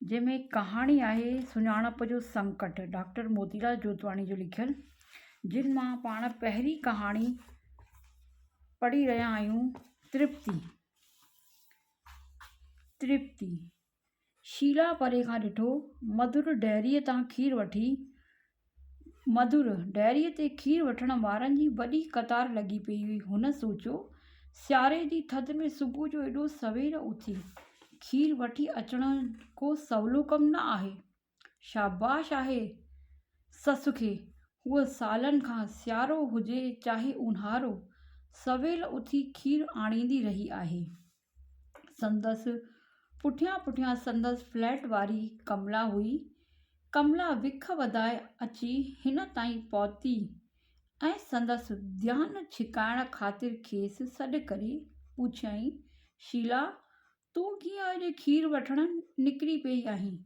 جنهن ۾ ڪهاڻي آهي سڃاڻپ جو سنڪٽ ڊاڪٽر موتيلال جوتواڻي جو لکيل جن مان پاڻ پهرين ڪهاڻي پڙهي رهيا آهيون ترپتي ترپتي شيلا پري کان ڏٺو مڌر ڊيريء تان کير وٺي مڌور ڊيريء تي کير وٺڻ وارن جي وڏي قطار لڳي پيئي هئي. هن سوچيو، سياري جي ٿڌ ۾ صبح جو ايڏو سوير اٿي، کير وٺي اچڻ ڪو سولو ڪم نه آهي. شاباش آهي سس کي، هوء سالن کان، سيارو هجي چاهي اونهارو، سويل اٿي کير آڻيندي رهي آهي. سندس پٺيان پٺيان سندس فليٽ واري ڪملا هئي. ڪملا وک وڌائي اچي هن تائين پهتي ۽ سندس ڌيان ڇڪائڻ خاطر کيس سڏ ڪري پڇيائين، شيلا! تون ڪيئن اڄ کير وٺڻ نڪري پئي آهين؟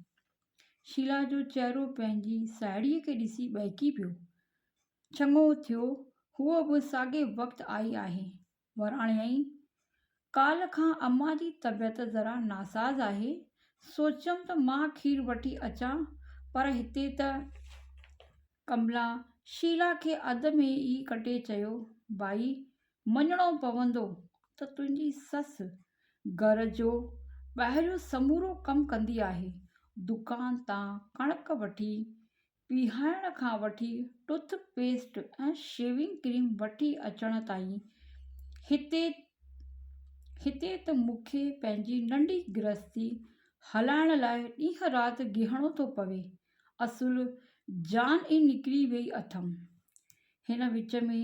شيلا جو چهرو پنهنجي ساهيڙيء کي ڏسي ٻهڪي پيو. چڱو ٿيو هوء به ساڳئي وقت آئي آهي. وراڻيائين، ڪالهه کان امان جي طبيعت ذرا ناساز آهي، سوچيم ته مان کير وٺي اچان، پر هتي ته ڪملا شيلا کي اڌ ۾ ئي ڪٽي چيو، ڀائي مڃڻو پوندو ته تنهنجي سس گهر جو ٻاهريون سمورو ڪم ڪندي آهي، دڪان تان ڪڻڪ وٺي پيهائڻ کان وٺي ٽوٿ پيسٽ ۽ شيوينگ ڪريم وٺي اچڻ تائين هتي هتي ته مون کي پنهنجي ننڍي گرهستي هلائڻ لاء ڏينهن رات گهيڻو ٿو پوي اصل جان ئي نڪري ويئي اٿم هن وچ ۾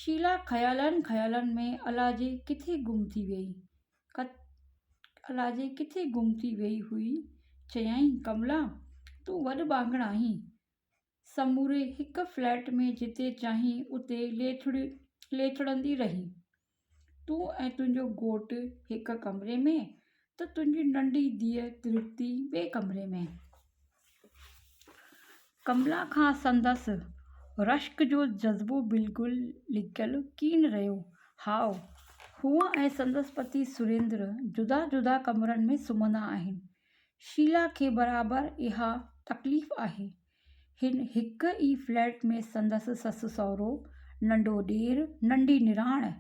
شيلا خيالن خيالن ۾ الاجي ڪٿي گم ٿي ويئي ڪٿ الاجي ڪٿي گم ٿي وئي هئي چيائين ڪملا تون وڏ ٻانگهڻ آهين سموري هڪ فليٽ ۾ جتي چاهين اتي ليٿڙي ليٿڙندي رهين تون ۽ تنهنجو گهوٽ هڪ ڪمري ۾ ته تنهنجي ننڍي ڌيء ترپتي ٻئي ڪمري ۾. ڪملا کان سندس رشڪ جو جذبو بلڪل لڪيل ڪين رهيو هائو، هوء ۽ سندس پتي سريندر جدا جدا ڪمرن ۾ سمهندا آهن. شيلا کي برابر اها تڪليف آهي. هن هڪ ئي فليٽ ۾ سندس سس سهرو، ننڍو ڏير، ننڍي نراڻ،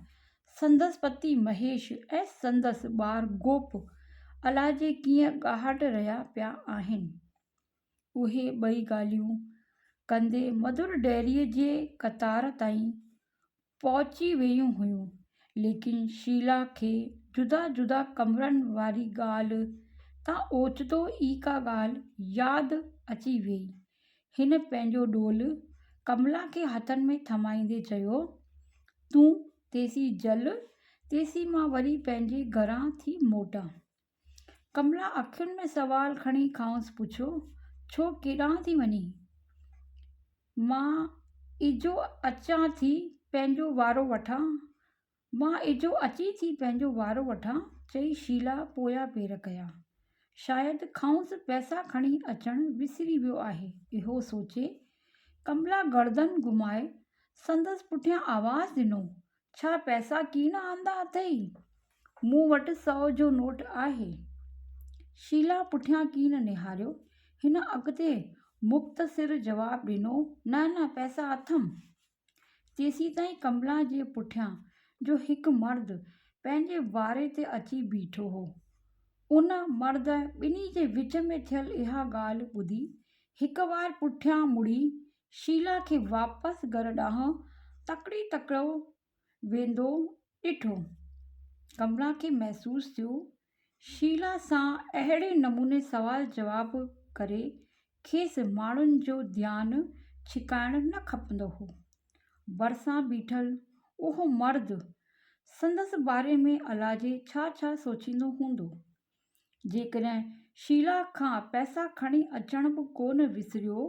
سندس پتي مهيش ۽ سندس ٻار گوپ الاجي ڪيئن ڳاهٽ رهيا پيا آهن. اهي ٻئي ڳالهيون ڪندي مڌر ڊيريء جي قطار تائين پهچي ويون هيون، ليڪن شيلا کي جدا جدا ڪمرن واري ڳالهه تان اوچتو ئي ڪا ڳالهه ياد اچي ويئي، هن پنهنجو ڏول ڪملا کي هٿن ۾ ٿمائيندي چيو، تون تيسين جل، تيسين مان وري پنهنجي گهران ٿي موٽان. ڪملا اکين ۾ سوال کڻي کائنس پڇيو، ڇو ڪيڏانهن ٿي وڃين؟ مان ايجو اچان ٿي پنهنجو وارو وٺان. مان ايجو اچي ٿي پنهنجو وارو وٺان چئي شيلا پويا پير ڪيا. شايد کانئس پئسا کڻي اچڻ وسري ويو آهي اهو سوچي ڪملا گڙدن گهمائي سندس پٺيان آواز ڏنو، ڇا پئسا ڪين آندا اٿئي؟ مون وٽ سئو جو نوٽ آهي. شيلا پٺيان ڪين نهاريو. هن اڳتي مختصر جواب ڏنو، نه نه پئسا اٿم. جيسيتائين ڪملا جي پٺيان جو هڪ مرد پنهنجي واري تي اچي بيٺو هو. ان مرد ٻنهي جي وچ ۾ ٿيل اها ڳالهه ٻڌي هڪ وار پٺيان مڙي شيلا کي واپس گهر ڏانهن تڪڙي تڪڙو ويندو ڏٺو. ڪملا کي محسوس ٿيو شيلا سان اهڙي نموني سوال جواب ڪري کيس ماڻهن جو ڌيان ڇڪائڻ نه کپندو هو. ڀرسان بيٺل اهو مرد سندس باري ۾ الاجي ڇا ڇا سوچيندو هوندو. جيڪڏهن شيلا کان پئسا کڻي اچڻ به ڪونه وسريو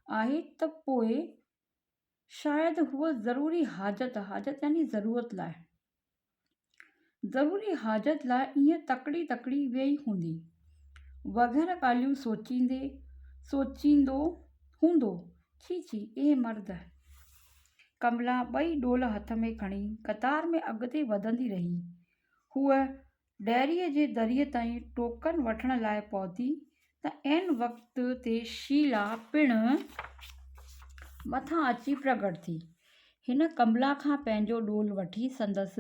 آهي ته پوء شايد هوء ضروري حاجت، حاجت يعني ضرورت لاء، ضروري حاجت لاء ائين تڪڙي تڪڙي ويئي هوندي. وغيره ڳالهيون سوچيندي سوچيندو هوندو، ڇي ڇي اهي مرد. ڪملا ٻئي ڏول هٿ ۾ کڻي قطار ۾ اڳتي وڌندي رهي. هوء ڊيريء جي دريء تائين ٽوڪن وٺڻ لاء پهتي ته عين وقت تي شيلا پڻ مٿان اچي پرگهٽ ٿي. هن ڪملا کان پنهنجو ڏول وٺي سندس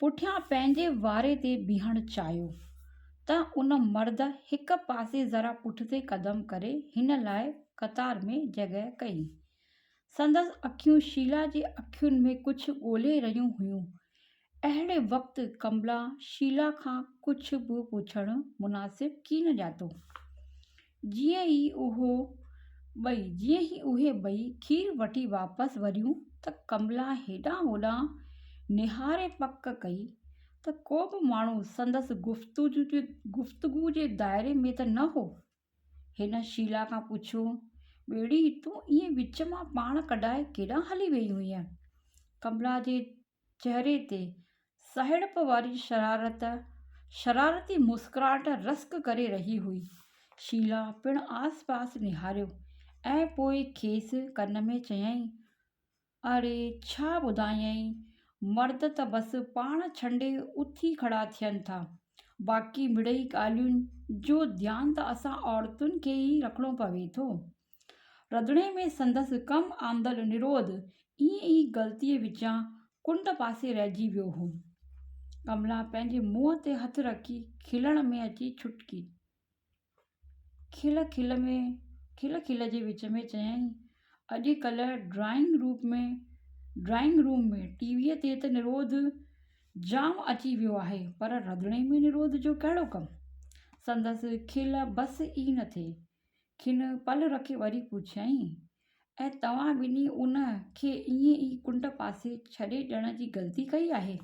پٺيان پنهنجي واري تي بيهڻ چاهيو ته ان مرد هڪ پاسي ذرا پٺتي قدم ڪري هن لاء قطار ۾ جڳهه ڪئي. سندس اکيون شيلا جي اکين ۾ ڪجهه ڳولهي رهيون هيون. اهڙي وقت ڪملا شيلا کان ڪجهه به پڇڻ مناسب ڪين ڄاتو. جيئن ئي اهو ٻئي جيئن ئي اهي ٻئي کير وٺي واپس وريون ته ڪملا هيڏانهن هوڏانهن نهاري پڪ ڪئي ته ڪو به ماڻهو سندس گفتگو جي دائري ۾ ته نه هو. هن شيلا کان پڇيو، ٻيڙي تون ائين وچ مان پاڻ ڪڍائي ڪيڏانهن هلي ويئي هئينء؟ ڪملا جي چهري تي سهيڙپ واري شرارت شرارتي مسڪراهٽ رسڪ ڪري رهي هئي. شيلا پڻ آس پاس نهاريو ۽ پوء کيس ڪن ۾ چيائين، اڙي ڇا ٻڌايئين، مرد ته بس پاڻ ڇنڊي اٿي کڙا ٿين ٿا، باقي مڙئي ڳالهين جو ڌيان ته اسان عورتن کي ئي رکڻو پوي ٿو. رڌڻي ۾ سندس ڪم آندل نروڌ ائين ئي غلطيء وچان ڪنڊ پاسي رهجي ويو هو. ڪملا پنهنجي منهن تي هٿ رکي کلڻ ۾ اچي ڇٽڪي. کل کل ۾ کل کل جي وچ ۾ چيائين، اڄ ڪلهه drawing room ۾ drawing room ۾ TV وي تي ته نروڌ جام اچي ويو آهي پر رڌڻي ۾ نروڌ جو ڪهڙو ڪم؟ سندس کل بس ئي نه ٿي. کن پل رکي وري پڇيائين، ۽ توهان ٻنهي ان کي ائين ئي ڪنڊ پاسي ڇڏي ڏيڻ جي غلطي ڪئي آهي؟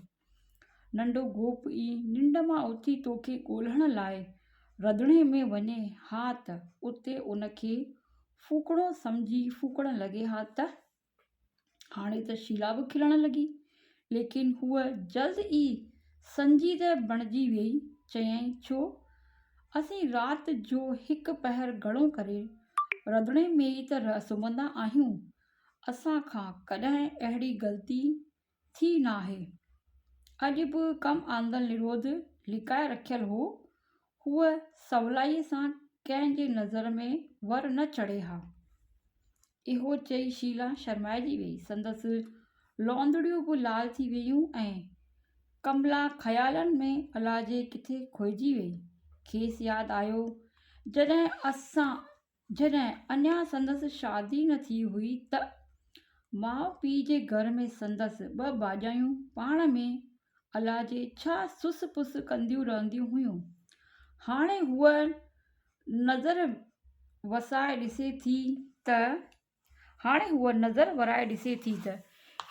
ننڍو گوپ اي ننڊ مان اٿي توکي ڳولهڻ لاء رڌڻي ۾ وڃي ها ته اتي ان کي ڦوڪڻو سمجهي ڦوڪڻ لڳي ها ته هاڻي ته شيلا به کلڻ لڳي ليڪن هوء جلد ئي سنجيده بڻجي ويئي چيائين ڇو اسين رات جو هڪ پهر گهڻو ڪري رڌڻي ۾ ئي ته سمهندا آهيون اسان کان ڪڏهن اهڙي غلطي ٿي ناهي. اڄ به ڪم آندل نروڌ لڪائي رکيل هو. هوء سولائيء سان ڪنهن جي نظر ۾ ور نه چڙهي ها. اهو چئي شيلا شرمائجي ويئي. سندس لوندڙيون به لال ٿي ويون ۽ ڪملا خيالن ۾ الاجي ڪٿي کوئجي ويئي. کيس ياد آيو جڏهن اسان جڏهن اڃا سندس شادي نه ٿي هئي ته ماء پيء جي گهر ۾ سندس ٻه ڀاڄايون پاڻ ۾ الاجي ڇا سس پس ڪنديون رهنديون هيون. هاڻي هوء نظر وسائي ڏسي ٿي ته هاڻي هوء نظر ورائي ڏسي ٿي ته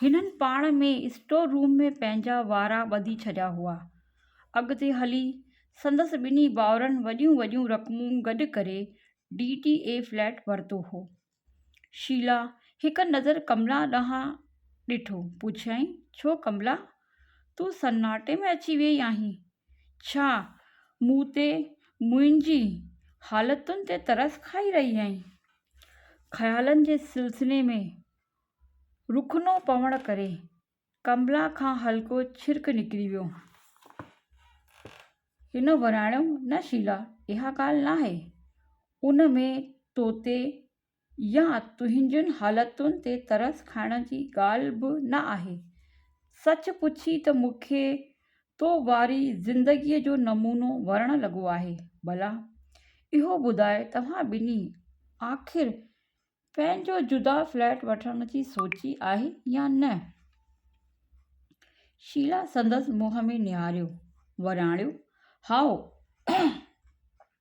هنن پاڻ ۾ اسٽور روم ۾ پنهنجا وارا ٻڌي ڇڏيا هئا. اڳتي هلي سندس ٻنهي ڀائرن وڏيون وڏيون رقمون گڏ ڪري ڊي ٽي اي فليٽ ورتو هو. شيلا هڪ نظر ڪملا ڏانهن ڏٺو، پڇيائين، ڇو ڪملا! تون سناٽي ۾ اچي ويئي آهين؟ ڇا مون تي منهنجي حالتن تي ترس کائي رهي آهين؟ خيالن جي سلسلي ۾ رکنو پوڻ ڪري ڪملا کان هلڪو ڇرڪ نڪري ويو. هن وراڻيو، نه شيلا، اها ڳالهه نه آهي. ان ۾ تو تي يا تنهنجين حالتن تي ترس کائڻ جي ڳالهه به نه آهي. سچ پڇين ته مون کي تو واري زندگيء جو نمونو ورڻ لڳو آهي. ڀلا اهو ٻڌاء توهان ٻنهي آخر پنهنجو جدا فليٽ وٺڻ جي سوچي آهي يا نه؟ شيلا سندس منهن ۾ نهاريو، وراڻيو، هائو!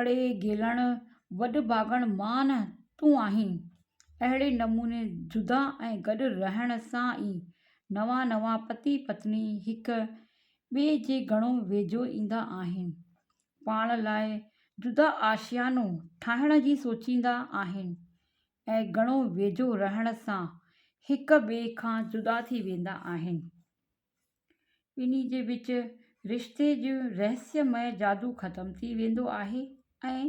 اڙي گيلڻ وڏ ڀاڳڻ مان تون آهين. اهڙي نموني جدا ۽ گڏ رهڻ سان ئي نوان نوان پتي پتني هڪ ٻئي جي گهڻو ويجهو ايندا آهن. پاڻ لاء جدا آشيانو ٺاهڻ جي سوچيندا آهن ۽ گهڻو ويجهو رهڻ سان هڪ ٻئي کان جدا ٿي ويندا آهن. ٻنهي جي وچ رشتي جو رهسيمئي جادو ختم ٿي ويندو آهي ۽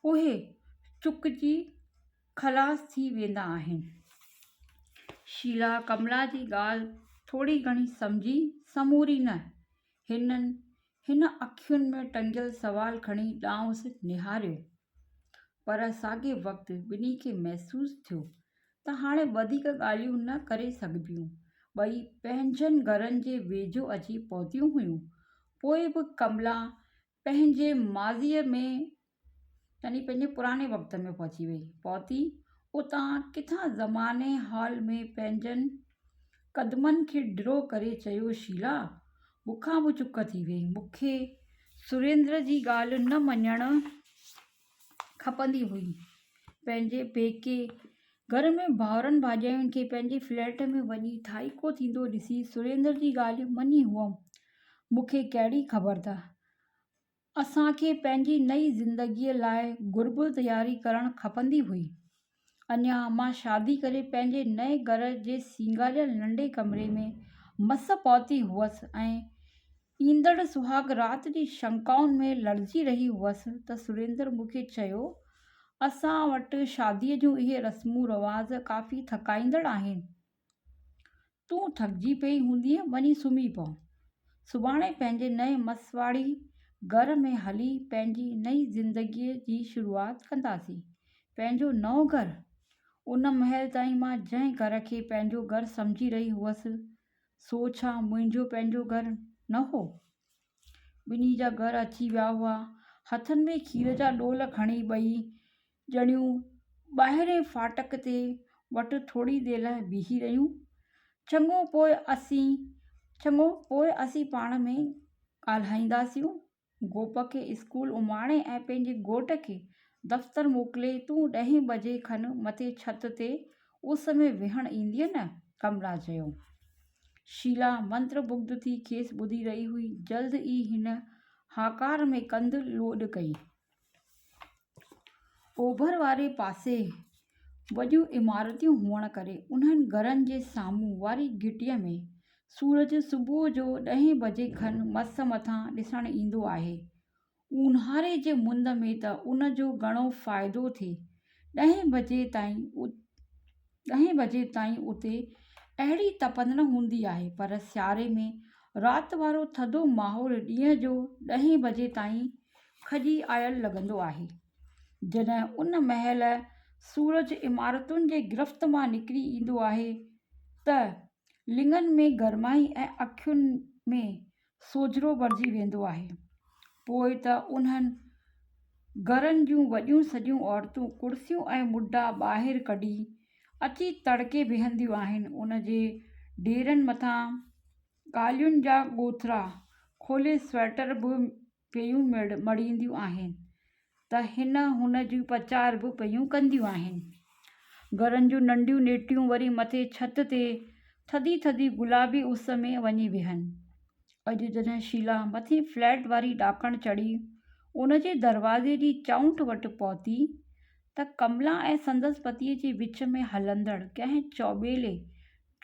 اهي چڪجي خلاص ٿي ويندا آهن شيلا ڪملا جي ڳالهه ٿوري گهڻي سمجهي سموري نه هنن هن اکين ۾ ٽنگيل سوال کڻي ڏانهنس نهاريو، پر ساڳئي وقت ٻنهي کي محسوس ٿيو ته هاڻي وڌيڪ ڳالهيون نه ڪري سگهبيون. ٻئي پنهنجن گهرن جي ويجهو اچي پهتيون هيون. پوء به ڪملا پنهنجي ماضيء ۾ يعني پنهنجي پراڻي وقت ۾ پهچي وئي پهتي اتان ڪٿان زماني حال ۾ پنهنجن قدمن کي ڊرو ڪري چيو شيلا مونکان به چڪ ٿي وئي مونکي سريندر جي ڳالهه نه مڃڻ کپندي هئي پنهنجي پيڪي گهر ۾ ڀائرن ڀاڄاين کي پنهنجي فليٽ ۾ وڃي ٿائيڪو ٿيندو ڏسي سريندر جي ڳالهه مڃي هئم مونکي ڪهڙي خبر ته اسان کي پنهنجي نئين زندگيء لاء گهربل تياري ڪرڻ کپندي هئي. اڃا مان شادي ڪري پنهنجي نئين گهر جي سينگاريل ننڍي ڪمري ۾ مس پهتي هئس ۽ ايندڙ سهاڳ رات جي شنڪائن ۾ لڙزي رهي هئس ته سريندر مون کي چيو، اسان وٽ شاديء جون اهي رسمون رواج ڪافي ٿڪائيندڙ آهن. تون ٿڪجي پيئي هوندينء وڃي سمهي پو. سڀاڻي پنهنجي نئين مس واڙي گهر ۾ هلي پنهنجي نئين زندگيء جي شروعات ڪنداسين. پنهنجو نئون گهر؟ ان مهل تائين مان جنهن گهر کي پنهنجو گهر سمجهي رهي هئس، سو ڇا منهنجو پنهنجو گهر نه هو؟ ٻنهي جا گهر اچي ويا هئا. هٿن ۾ کير جا ڏول کڻي ٻئي ڄڻيون ٻاهرئين ڦاٽڪ تي وٽ ٿوري دير لاء بيهي رهيون. چڱو پوء اسين چڱو پوء اسين پاڻ ۾ ڳالهائينداسيون. گوپ کي اسڪول اماڻي ۽ پنهنجي گهوٽ کي دفتر موڪلي تون ڏهين بجي کن مٿي ڇت تي اس ۾ ويهڻ ايندينء نه؟ ڪملا چيو. شيلا منترمگڌ ٿي کيس ٻڌي رهي هئي. جلد ئي هن هاڪار ۾ ڪنڌ لوڏ ڪئي. اوڀر واري پاسي وڏيون عمارتون هئڻ ڪري انهن گهرن جي سامهون واري گهٽيء ۾ سورج صبح جو ڏهين بجي کن مس مٿان ڏسڻ ايندو آهي. اونهاري جي مند ۾ ته ان جو گهڻو فائدو ٿئي. ڏهين بجي تائين ڏهين بجي تائين اتي اهڙي تپندڙ هوندي آهي پر سياري ۾ رات وارو ٿڌو ماحول ڏينهن جو ڏهين بجي تائين کڄي آيل لڳندو آهي جڏهن ان مهل سورج عمارتن جي گرفت مان نڪري ايندو آهي ته لڱن ۾ گرمائي ۽ اکين ۾ سوجهرو ڀرجي ويندو آهي. پوء ته انهن گهرن جون وڏيون سڄيون عورتون ڪرسيون ۽ مڊا ٻاهر ڪڍي اچي تڙڪي بيهنديون آهن. ان جي ڍيرن مٿان ڪالين جا ڳوٿرا کولي سوئيٽر به پيون مڙهينديون آهن ته هن هن جون پچار به پيون ڪنديون آهن. گهرن جون ننڍيون نيٽيون وري مٿي ڇت تي ٿڌي ٿڌي گلابي اس ۾ وڃي ويهن. اڄ جڏهن شيلا مٿين فليٽ واري ڏاڪڻ چڙهي ان جي دروازي جي چؤنٺ وٽ پهتي ته ڪملا ۽ سندس پتيء جي وچ ۾ هلندڙ ڪنهن چوٻيلي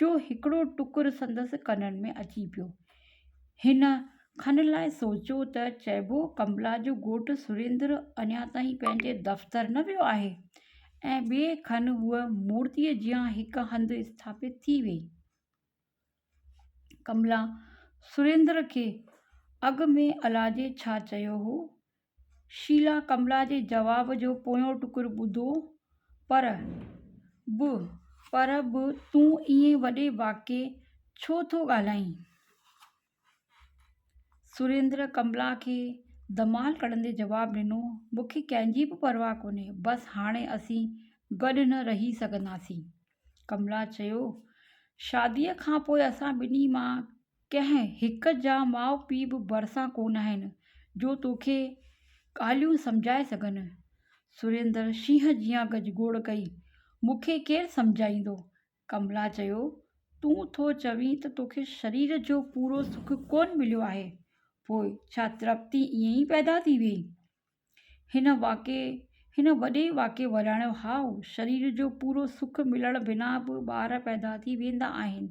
جو هڪڙو ٽڪر سندس ڪنن ۾ اچي پيو. هن کن لاء سوچيو ته چئبو ڪملا جو گهوٽ سريندر اڃا تائين پنهنجي دفتر نه ويو آهي ۽ ٻئي کن هوء مورتيء جيان هڪ هنڌ اسٿاپت ٿي ويئي. ڪملا سريندر کي اڳ ۾ الاجي ڇا چيو هو شيلا ڪملا جي جواب جو پويون ٽڪر ٻڌو پر به پر به تون ائين وڏي واڪي ڇو ٿو ڳالهائين سريندر ڪملا کي دماغ ڪڍندي جواب ڏنو مونکي ڪنهنجي به پرواهه ڪونهي بس هاڻي اسين گڏ نه رهي سگهنداسين ڪملا چيو شادي کانپوء اسان ٻنهي مان ڪنهن هڪ جا ماء پيء به ڀرسان ڪونه آهن جو توکي ڳالهيون سمجهائي سگهن. سريندر شينهن جيان گجگوڙ ڪئي، مون کي ڪير سمجهائيندو؟ ڪملا چيو، تون ٿو چوين ته توکي شرير جو پورو سک ڪونه مليو آهي، پوء ڇا ترپتي ائين ئي پيدا ٿي ويئي؟ هن واقعي هن وڏي واقعي وراڻيو هائو، شرير جو پورو سک ملڻ بنا به ٻار پيدا ٿي ويندا آهن.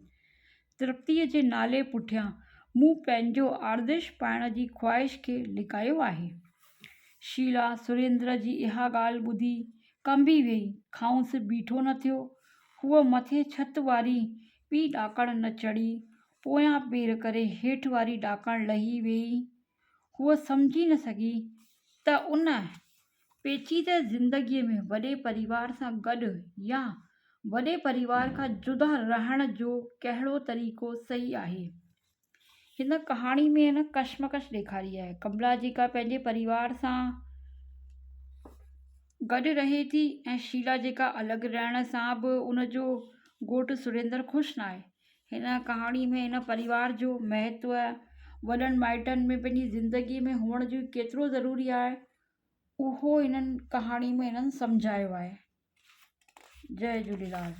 ترپتيء جي نالي پٺيان مون پنهنجو آرديش پائڻ جي خواهش کي لڪايو آهي. شيلا سريندر جي اها ڳالهه ٻڌي ڪنبي ويئي. کانئس بيٺو نه ٿيو. هوء مٿي ڇت واري ٻي ڏاڪڻ نه چڙهي، پويان پير ڪري هيٺ واري ڏاڪڻ لهي ويئي. هوء سمجهي نه سگهي ته ان پيچيده زندگيء ۾ وڏي پريوار سان گڏ يا وڏي پريوار کان جدا رهڻ جو ڪهڙو طريقو صحيح آهي. هن ڪهاڻي ۾ هن ڪشمڪش ڏيکاري آهي. ڪملا جيڪا پنهنجي پريوار سان گڏ رهي ٿي ۽ شيلا جيڪا الڳ رهڻ سان به ان جو گهوٽ سريندر خوش ناهي. هن ڪهاڻي ۾ هن پريوار جو مهتو وڏن مائٽن ۾ پنهنجي زندگي ۾ هئڻ جي ڪيترو ضروري آهي اهو هنن ڪهاڻي ۾ هنن سمجهايو آهي جي جهليلال